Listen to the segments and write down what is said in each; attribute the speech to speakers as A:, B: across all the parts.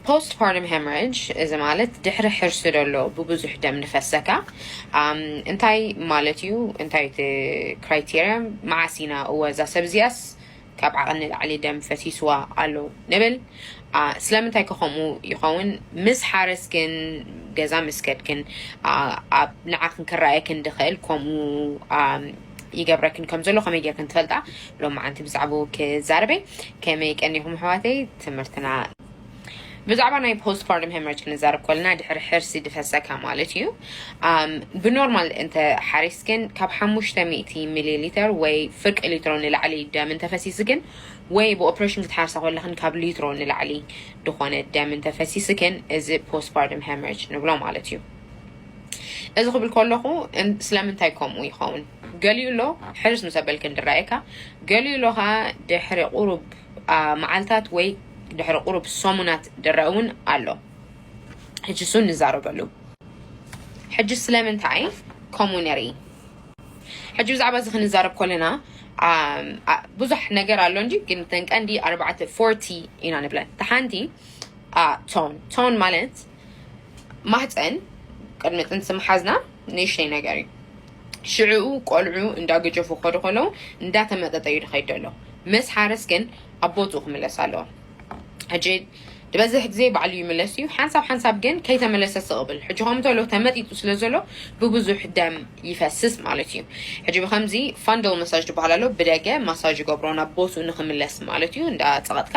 A: Postpartum Hemorrhage እዚ ማለት ድሕሪ ሕርሲ ደሎ ብብዙሕ ደም ንፈሰካ እንታይ ማለት እዩ እንታይ እዩ እቲ criteria መዓስ ኢና እወ እዛ ሰብ እዚኣስ ካብ ዓቐን ንላዕሊ ደም ፈሲስዋ ኣሎ ንብል ስለምንታይ ከ ከምኡ ይኸውን ምስ ሓረስክን ገዛ ምስ ከድክን ኣብ ንዓክን ክረኣየክን ድኽእል ከምኡ ይገብረክን ከም ዘሎ ከመይ ጌርክን ትፈልጣ ሎማዓንቲ ብዛዕባኡ ክዛረበ ከመይ ቀኒኹም ኣሕዋተይ ትምህርትና ብዛዕባ ናይ ፖስት ፓርትም ሄመርጅ ክንዛረብ ኮለና ድሕሪ ሕርሲ ድፈሰካ ማለት እዩ ብኖርማል እንተ ሓሪስ ግን ካብ ሓሙሽተ ሚእቲ ሚሊ ሊትር ወይ ፍርቂ ሊትሮ ንላዕሊ ደም እንተፈሲስ ግን ወይ ብኦፕሬሽን ክትሓርሳ ኮለኽን ካብ ሊትሮ ንላዕሊ ዝኾነ ደም እንተፈሲስ ግን እዚ ፖስት ፓርትም ሄመርጅ ንብሎ ማለት እዩ እዚ ክብል ከለኹ ስለምንታይ ከምኡ ይኸውን ገሊኡ ኣሎ ሕርስ ምስ ኣበልክ እንድረኣየካ ገሊኡ ኣሎ ከዓ ድሕሪ ቁሩብ መዓልታት ወይ ድሕሪ ቁሩብ ሰሙናት ድረእ እውን ኣሎ ሕጂ እሱ ንዛረበሉ ሕጂ ስለምንታይ ከምኡ ንርኢ ሕጂ ብዛዕባ እዚ ክንዛረብ ከለና ብዙሕ ነገር ኣሎ እንጂ ግን ተንቀንዲ ኣርባዕተ ፎርቲ ኢና ንብለን ተሓንቲ ቶን ቶን ማለት ማህፀን ቅድሚ ጥንሲ ምሓዝና ንእሽተይ ነገር እዩ ሽዕኡ ቆልዑ እንዳገጀፉ ክኸዱ ከለዉ እንዳተመጠጠ እዩ ድኸይድ ደሎ ምስ ሓረስ ግን ኣብ ቦትኡ ክምለስ ኣለዎ ሕጂ ዝበዝሕ ግዜ ባዕሉ ይምለስ እዩ ሓንሳብ ሓንሳብ ግን ከይተመለሰ ስቕብል ሕጂ ከም ተሎ ተመጢጡ ስለ ዘሎ ብብዙሕ ደም ይፈስስ ማለት እዩ ሕጂ ብከምዚ ፋንደል መሳጅ ትበሃል ኣሎ ብደገ ማሳጅ ይገብሮ ናብ ቦትኡ ንክምለስ ማለት እዩ እንዳ ፀቐጥካ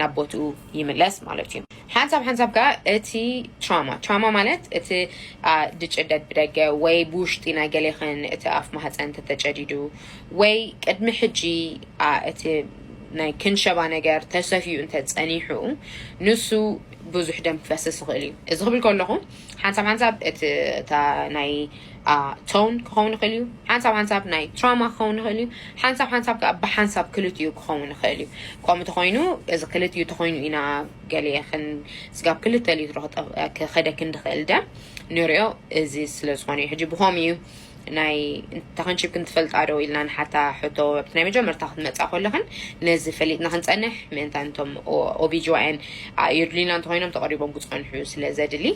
A: ናብ ቦትኡ ይምለስ ማለት እዩ ሓንሳብ ሓንሳብ ከዓ እቲ ትራማ ትራማ ማለት እቲ ድጭደድ ብደገ ወይ ብውሽጢ ናይ ገሌኽን እቲ ኣፍ ማህፀን ተተጨዲዱ ወይ ቅድሚ ሕጂ እቲ ናይ ክንሸባ ነገር ተሰፍዩ እንተ ፀኒሑ ንሱ ብዙሕ ደም ክፈስስ ይኽእል እዩ እዚ ክብል ከለኹ ሓንሳብ ሓንሳብ እቲ ናይ ቶን ክኸውን ይኽእል እዩ፣ ሓንሳብ ሓንሳብ ናይ ትራማ ክኸውን ይኽእል እዩ፣ ሓንሳብ ሓንሳብ ከኣ ብሓንሳብ ክልቲኡ ክኸውን ይኽእል እዩ። ከምኡ እንተኾይኑ እዚ ክልቲኡ እንተኾይኑ ኢና ገሊኤ ስጋብ ክልተ ሊትሮ ክኸደኪ እንድኽእል ደም ንሪኦ እዚ ስለ ዝኾነ እዩ። ሕጂ ብኸምኡ እዩ ናይ ተኸንቺብኪ እንትፈልጣ ዶ ኢልና ንሓታ ሕቶ ኣብቲ ናይ መጀመርታ ክትመፃ ከለኽን ነዚ ፈሊጥና ክንፀንሕ ምእንታን እቶም ኦቢጂዋኤን የድልዩና እንተኾይኖም ተቐሪቦም ክፀንሑ ስለ ዘድሊ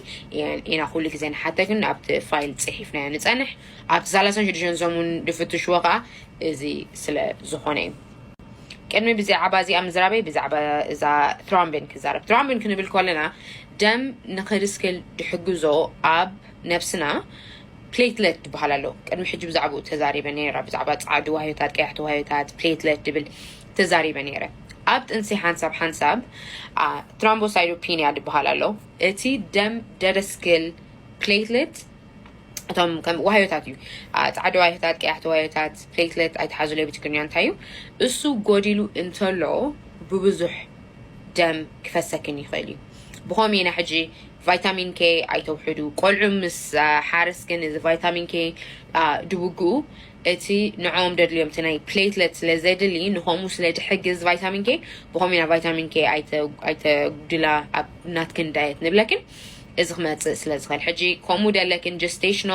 A: ኢና ኩሉ ግዜ ንሓተክ ግን ኣብቲ ፋይል ጽሒፍናዮ ንጸንሕ ኣብቲ ሳላሳን ሽዱሽተን ሰሙን ድፍትሽዎ ከኣ እዚ ስለ ዝኾነ እዩ ቅድሚ ብዛዕባ እዚኣ ምዝራበይ ብዛዕባ እዛ ትሮምቢን ክዛረብ ትሮምቢን ክንብል ከለና ደም ንክድስክል ድሕግዞ ኣብ ነብስና ፕሌትለት ድበሃል ኣሎ ቅድሚ ሕጂ ብዛዕባኡ ተዛሪበ ነይረ ብዛዕባ ፃዕዱ ዋህዮታት ቀያሕቲ ዋህዮታት ፕሌትለት ድብል ተዛሪበ ነይረ ኣብ ጥንሲ ሓንሳብ ሓንሳብ ትራምቦሳይዶፒንያ ድበሃል ኣሎ እቲ ደም ደደስክል፣ Platelet፣ እቶም ከም ዋህዮታት እዩ። አ፣ ጻዕዳ ዋህዮታት፣ ቀያሕቲ ዋህዮታት፣ Platelet፣ ኣይትሓዙለይ ብትግርኛ እንታይ እዩ? እሱ ጎዲሉ እንተሎ ብብዙሕ ደም ክፈሰክን ይኽእል እዩ። ብኸም ኢና ሕጂ ቫይታሚን ኬ ኣይተውሕዱ ቆልዑ ምስ አ፣ ሓርስ ግን እዚ ቫይታሚን ኬ አ፣ ድውግኡ እቲ ንዕኦም ደድልዮም እቲ ናይ ፕሌትለት ስለ ዘድሊ ንከምኡ ስለ ድሕግዝ ቫይታሚን ኬ ብከምኡ ኢና ቫይታሚን ኬ ኣይተጉድላ ኣብ ናትክን ዳየት ንብለክን እዚ ክመጽእ ስለ ዝክእል ሕጂ ከምኡ ደለክን ጀስቴሽኖ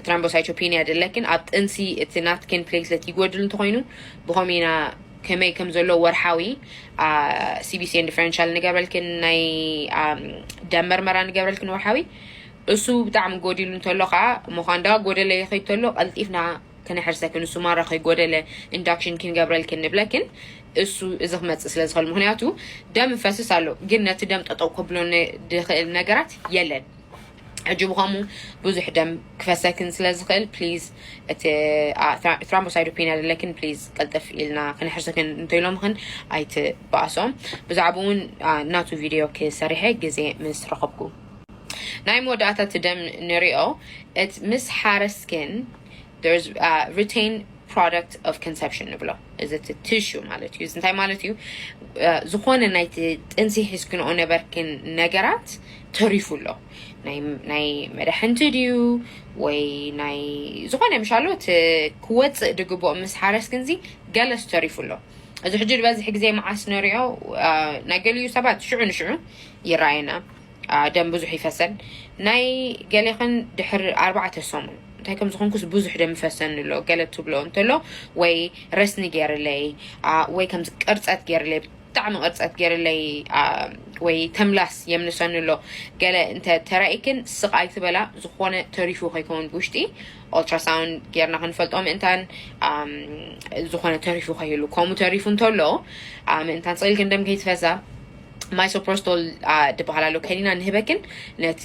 A: ትራምቦሳይቶፒንያ ደለክን ኣብ ጥንሲ እቲ ናትክን ፕሌትለት ይጎድል እንተኮይኑ ብከምኡ ኢና ከመይ ከም ዘሎ ወርሓዊ ሲቢሲኤን ዲፈረንሻል ንገብረልክን ናይ ደም መርመራ ንገብረልክን ወርሓዊ እሱ ብጣዕሚ ጎዲሉ እንተሎ ከኣ ምዃንዳ ጎደለ ይኺድ ተሎ ቀልጢፍና ክነሕርሰክን እሱ ማራ ከይጎደለ ኢንዳክሽን ኪንገብረልክን ንብለክን እሱ እዚ ክመጽእ ስለ ዝኸል ምኽንያቱ ደም ይፈስስ ኣሎ ግን ነቲ ደም ጠጠው ከብሎ ድኽእል ነገራት የለን ሕጂ ብኸምኡ ብዙሕ ደም ክፈሰክን ስለ ዝኽእል ፕሊዝ እቲ ትራምቦሳይዶፔን ኣለክን ፕሊዝ ቀልጥፍ ኢልና ክነሕርሰክን እንተኢሎምኽን ኣይትበኣሶም ብዛዕባኡ እውን ናቱ ቪድዮ ክሰሪሐ ግዜ ምስ ረኸብኩ ናይ መወዳእታ እቲ ደም ንሪኦ እቲ ምስ ሓረስ ግን there's uh, retained product of conception ንብሎ እዚ እቲ ቲሹ ማለት እዩ እዚ እንታይ ማለት እዩ እ፣ ዝኾነ ናይቲ ጥንሲ ሒዝክንኦ ነበርክን ነገራት ተሪፉ ኣሎ ናይ ናይ መድሕንቲ ድዩ ወይ ናይ ዝኾነ ምሻሎ እቲ ክወፅእ ድግብኦ ምስ ሓረስ ግንዚ ገለስ ተሪፉ ኣሎ እዚ ሕጂ ዝበዝሕ ግዜ መዓስ ንሪኦ እ፣ ናይ ገሊኡ ሰባት ሽዑ ንሽዑ ይረኣየና ደም ብዙሕ ይፈሰን ናይ ገሌኽን ድሕሪ ኣርባዕተ ሰሙን እንታይ ከም ዝኾንኩስ ብዙሕ ደም ይፈሰኒ ኣሎ ገለ ትብሎ እንተሎ ወይ ረስኒ ገይርለይ ወይ ከምዚ ቅርፀት ገይርለይ ብጣዕሚ ቅርፀት ገይርለይ ወይ ተምላስ የምልሰኒ ኣሎ ገለ እንተ ተራኢክን ስቃይ ትበላ ዝኾነ ተሪፉ ከይከውን ብውሽጢ ኦልትራሳውንድ ጌርና ክንፈልጦ ምእንታን ዝኾነ ተሪፉ ከይህሉ ከምኡ ተሪፉ እንተሎ ምእንታን ስኢልክን ደም ከይትፈሳ ማይሶፕሮስቶል ድበሃል ኣሎ ከኒና ንህበክን ነቲ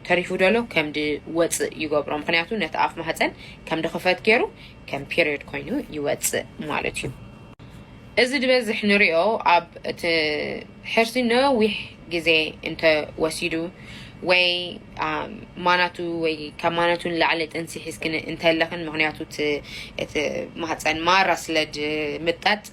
A: ተሪፉ ደሎ ከም ድወፅእ ይገብሮ ምክንያቱ ነቲ ኣፍ ማህፀን ከም ድኽፈት ገይሩ ከም ፔሪዮድ ኮይኑ ይወፅእ ማለት እዩ እዚ ድበዝሕ ንሪኦ ኣብ እቲ ሕርሲ ነዊሕ ግዜ እንተወሲዱ ወይ ማናቱ ወይ ካብ ማናቱ ንላዕሊ ጥንሲ ሒዝክን እንተለኽን ምክንያቱ እቲ ማህፀን ማራ ስለ ድምጠጥ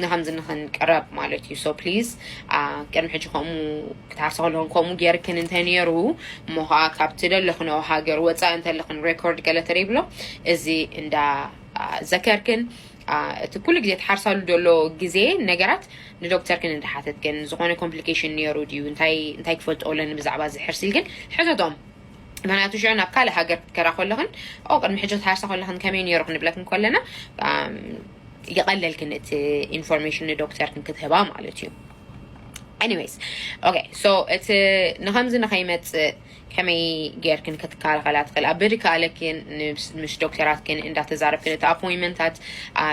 A: ንከምዚ ንክንቅረብ ማለት እዩ so please ቅድሚ ሕጂ ከምኡ ክትሃርሲ ከለክን ከምኡ ጌርክን እንተ ኔሩ እሞ ከኣ ካብ ትደለክንኦ ሃገር ወጻኢ እንተለክን record ገለ ተደይብሎ እዚ እንዳ ዘከርክን እቲ ኩሉ ግዜ ትሓርሳሉ ዘሎ ግዜ ነገራት ንዶክተርክን እንዳ ሓተትክን ዝኾነ complication ኔሩ ድዩ እንታይ እንታይ ክፈልጦ ኣለኒ ብዛዕባ እዚ ሕርሲ ኢልክን ሕተቶም ምክንያቱ ሽዑ ናብ ካልእ ሃገር ክትከራ ከለክን ኦ ቅድሚ ሕጂ ክትሃርሳ ከለክን ከመይ ኔሩ ክንብለክን ከለና ይቐለልክን እቲ ኢንፎርሜሽን ንዶክተርክን ክትህባ ማለት እዩ anyways okay so እቲ ንከምዚ ንከይመፅእ ከመይ ጌርክን ክትከላኸላ ትኽእል ኣብ ብድከኣለክን ምስ ዶክተራትክን እንዳተዛረብክን እቲ ኣፖይንመንታት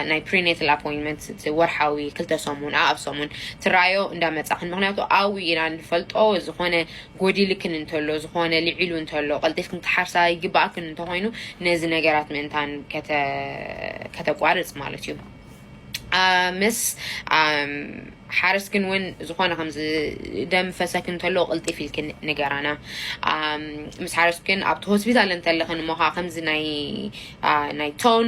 A: ናይ ፕሪኔትል ኣፖይንመንት እቲ ወርሓዊ ክልተ ሰሙን ኣብ ሰሙን ትረኣዮ እንዳመፃኽን ምክንያቱ ኣዊ ኢና ንፈልጦ ዝኾነ ጎዲልክን እንተሎ፣ ዝኾነ ልዒሉ እንተሎ፣ ቀልጢፍክን ክትሓርሳ ይግበኣክን እንተኾይኑ፣ ነዚ ነገራት ምእንታን ከተቋርጽ ማለት እዩ። ምስ ሓረስክን እውን ዝኾነ ከምዚ ደም ፈሰክን እንተሎ ቅልጢፍ ኢልክን ንገራና። ምስ ሓረስክን ኣብቲ ሆስፒታል እንተለኽን እሞ ከዓ ከምዚ ናይ ናይ ቶን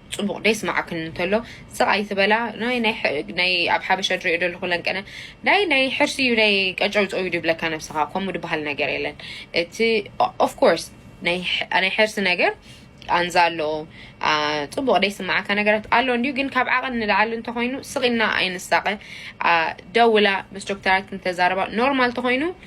A: ጽቡቅ ደይስማዓክን እንተሎ ስቅ ኣይትበላ ናይ ናይ ኣብ ሓበሻ ድሪኦ ደልኹ ለንቀነ ናይ ናይ ሕርሲ እዩ ናይ ቀጨውጨው እዩ ድብለካ ነብስኻ ከምኡ ድበሃል ነገር የለን እቲ ኦፍ ኮርስ ናይ ናይ ሕርሲ ነገር ቃንዛ ኣሎ ጽቡቅ ደይስማዓካ ነገራት ኣሎ እንዲዩ ግን ካብ ዓቐን ንላዕሊ እንተኮይኑ ስቂልና ኣይንሳቀ ደውላ ምስ ዶክተራት ክንተዛረባ ኖርማል ተኮይኑ